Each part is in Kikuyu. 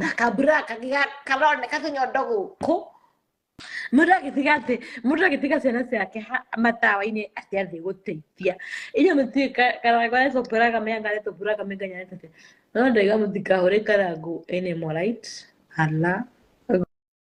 na kambura kagiga karoneka tũnyondo gũkũ mũndũ agĩtiga atĩ mũndũ agĩtiga ciana ciake ha- matawa-inĩ atĩ athiĩ gũteithia inyuĩ mũtiĩ karango arĩa tũmbũraga mĩanga arĩa tũmbũraga mĩnganya arĩa tũte no ndaiga mũtikahũre karango ene morite hala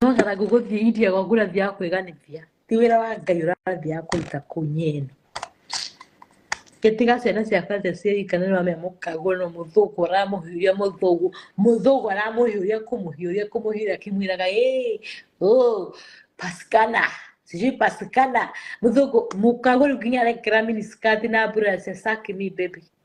nongetha ngũgũthiĩ india gwaku ũrathiaga kwĩganĩthia ti wĩra wa ngai ũrathiaga kũruta kũu nyeni gĩtiga ciana cia kanjũ ciaika nĩ wamea mũkaguo no mũthũngũ aramũhiũria mũthũngũ mũthũngũ aramũhiũria kũmũhiũria kũmũhiũria akĩmwĩraga ĩĩ ũ pasikana sijui pasikana mũthũngũ mũkaguo rĩu nginya arekĩra miniskati na mbura cia saki mi baby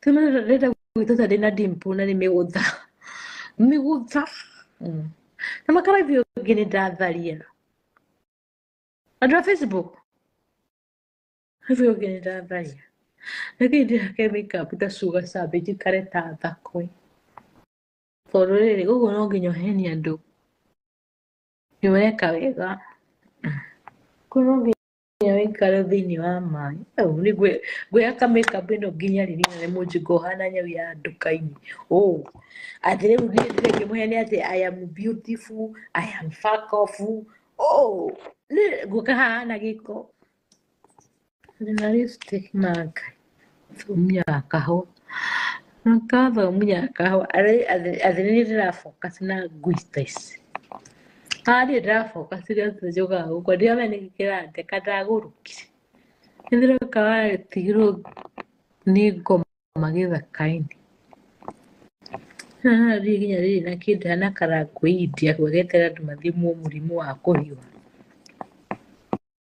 Tuna rĩrĩa gwitũ tarĩ na dimpo na nĩ mĩgũtha. Mĩgũtha. Mm. Na makarathi ũngĩ nĩ ndatharia. Andũ a Facebook. Rĩu ũngĩ nĩ ndatharia. Na kĩu ndĩhake makeup ta cuga cabe njikare ta thakwe. Tondũ rĩrĩ ũguo no nginya ũhenie andũ. Nĩ weka wega. Kũu no nginya nginya wĩikare thĩinĩ wa maĩ au nĩ ngwĩ- ngwĩhaka makeup ĩno nginya rĩ nginya nĩ mũnjingo ũhana nyau ya nduka-inĩ ũ atĩ rĩu niĩ ndĩrĩ ngĩmũhe nĩ atĩ I am beautiful I am fuck off ũ nĩ ngũka haha na gĩko ndĩna lipstick maka thomia kahũa na kathomia kahũa athini ndĩrafocus na ngui ta ici athĩ ndĩrafocus na tũnjũga gũkũ ndiramenya nĩkĩ kĩrandeka ndagũrũkire nĩndĩroka watigirwo nĩ ngoma gĩthaka-inĩ haha rĩu nginya rĩrĩ na kĩndũ hana karangũ india geterera andũ mathimwo mũrimũ wa kũhiũha.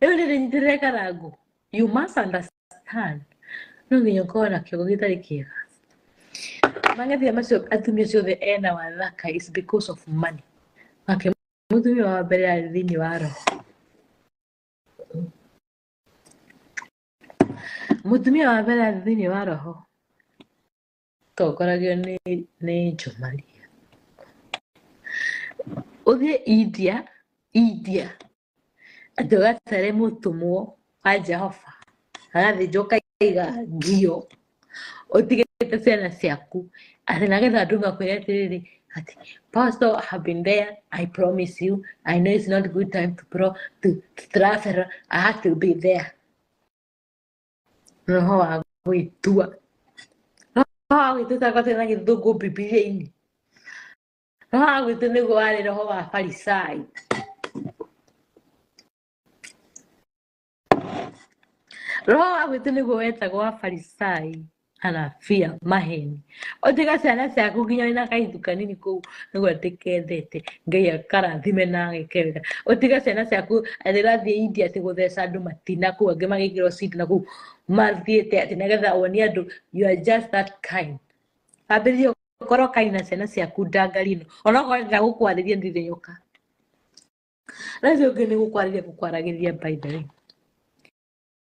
rĩu rĩrĩ ndĩreka rangu you must understand no nginya ũkorwo na kiugo gĩtarĩ kĩega mang'ethia macio atumia ciothe ena wathaka is because of money nake mũtumia wa mbere arĩ thĩinĩ wa roho mũtumia wa mbere arĩ thĩinĩ wa roho tongoragio nĩ nĩ njomaria ũthiĩ india india atĩ ũgatare mũtũmwo wa jehova agathĩnjwo kaiga ngio ũtigĩte ciana ciaku atĩ nagetha andũ makwĩre atĩrĩrĩ atĩ pastor I have been there i promise you i know it's not good time to, pro, to, to travel i have to be there roho wa gwĩtua roho wa gwĩtua takwatĩ na gĩthũngũ bibilia-inĩ roho wa gwĩtua nĩguo warĩ roho wa farisai roho wa gwĩtua nĩguo wetagwo wa farisai kana fear maheni otiga ciana ciaku nginya wĩna kaithu kanini kũu nĩguo atĩ kendete ngai akarathime na agĩkega otiga ciana ciaku atĩ rathiĩ india atĩ gũtheca andũ matina kũu angĩ magĩkĩrwo cindina kũu mathiĩte atĩ nĩgetha wonie andũ you are just that kind ambĩrĩrie korwo kai na ciana ciaku ndangari ĩno onakorwo ndĩra gũkwarĩria ndirĩ yoka rĩu ũngĩ nĩ gũkwarĩria gũkwaragĩria by the way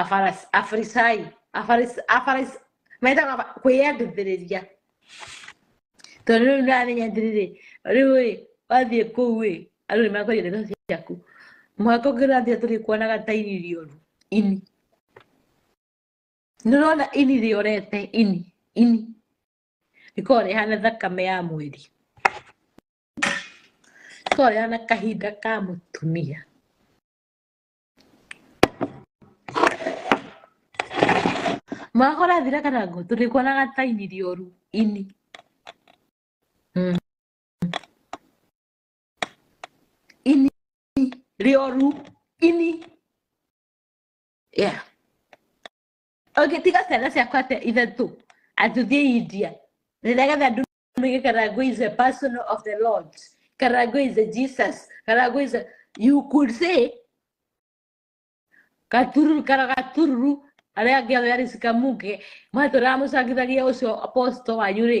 Afaras- afarisai afaris- afaris- metaga aba- kwĩyendithĩrĩria tondũ rĩu nĩramenya atĩrĩrĩ rĩu ĩ wathiĩ kũu ĩ andũ nĩ makwendia ndeto ciaku mwaka ũngĩ ũrathiĩ tũrĩkuonaga ta ini rĩoru ini nĩũrona ini rĩorete ini ini rĩkorwo rĩhana thakame ya mweri rĩkorwo rĩhana kahinda ka mũtumia mwaka ũrathira kana ngo tũrĩkuonaga ta ini rĩoru ini mm. ini rĩoru ini yeah ũngĩtiga ciana ciakwa atĩa ithatũ atũthiĩ india nĩgetha ndũmĩge karango is a personal of the lord karango is a jesus karango is a you could say gatururu kara gatururu arĩa angĩ othe arĩ cikamuke matũraga mũcangithagia ũcio apostle wanyu rĩ